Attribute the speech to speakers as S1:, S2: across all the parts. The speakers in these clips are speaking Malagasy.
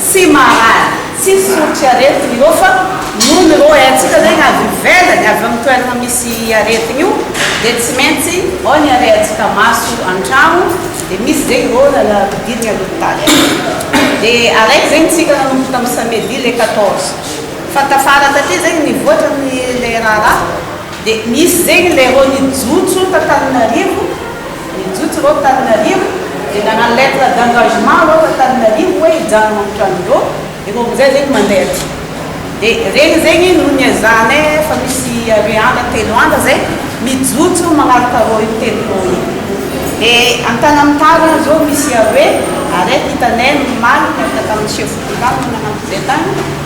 S1: Tsy marary, tsy fototry aretina io fa noho ny ireo haintsika zegny avy ivelany, avy amin'ny toerana misy aretigny io dia tsy maintsy ao ny arehantsika maso an-tragno dia misy zegny ireo lala ampidirigny any hopitaly any. Dia araiky zegny tsika nanomboka tamin'ny samedi le quatorze fa tafara taty zegny nivoatra ny le raharaha dia misy zegny le ireo nijotso t'Antananarivo, Nijotso ireo Antananarivo dia nanano lettre d'engagement ireo Antananarivo hoe hijanona amin'ny trano dô, ireo amin'izay zegny mandeha aty. Dia regny zegny no niezahanay efa misy aroe andra telo andra zay mijotso magnarotaro io telo dô io. Dia Antanamitar any zao misy aroe ary eto hitanay nomaly niaraka tamin'ny chef de village no nanampy zay tany.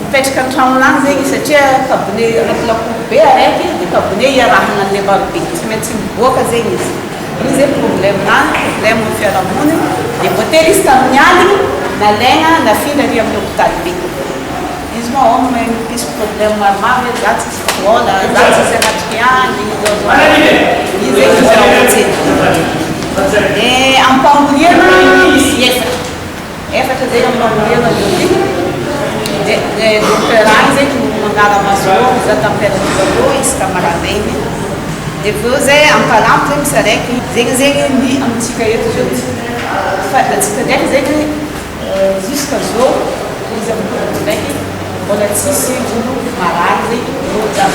S1: Mipetraka an-tranony any zegny izy satria kabone anaty lakoro be araiky de kabone iarahagna anle maro be tsy maintsy miboaka zegny izy io ze problème nany problème ny fiarahamoniny de voatery izy tamin'ny aligny nalaigna nafindra ary amin'ny hôpitaly be izy moa aona mahay mampisy problème maromaro hoe za tsisy vôla za tsisy anatrika any izy zegny izy raha hojery de am-pangoriagna misy ezaka Efatra izay amin'ny mamerina Biotique dia ilay docteur any izay no manara-maso eo mizaha température eo izy ka maraim-baigny dia avy eo izay ampalamy izay misy araiky. Zegny zegny ny amintsika eto zao fa antsika ndraiky zegny jusqu'à zao izy amin'ny Covid ndraiky mbola tsisy olo marary zay loatra.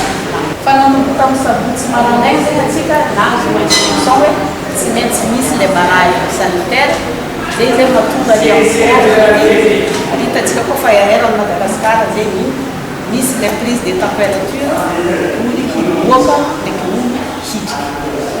S1: Fa nanomboka tamin'ny sabotsy maraindraigny zegny antsika nahazo instruction hoe tsy maintsy misy ilay barrage sanitaire. Zay izay no mahatonga ny amboara ny hitantsika koa fa air an'i Madagascar izay no misy ilay prise de temperature, ny voly hiboaka, ny voly hiditra.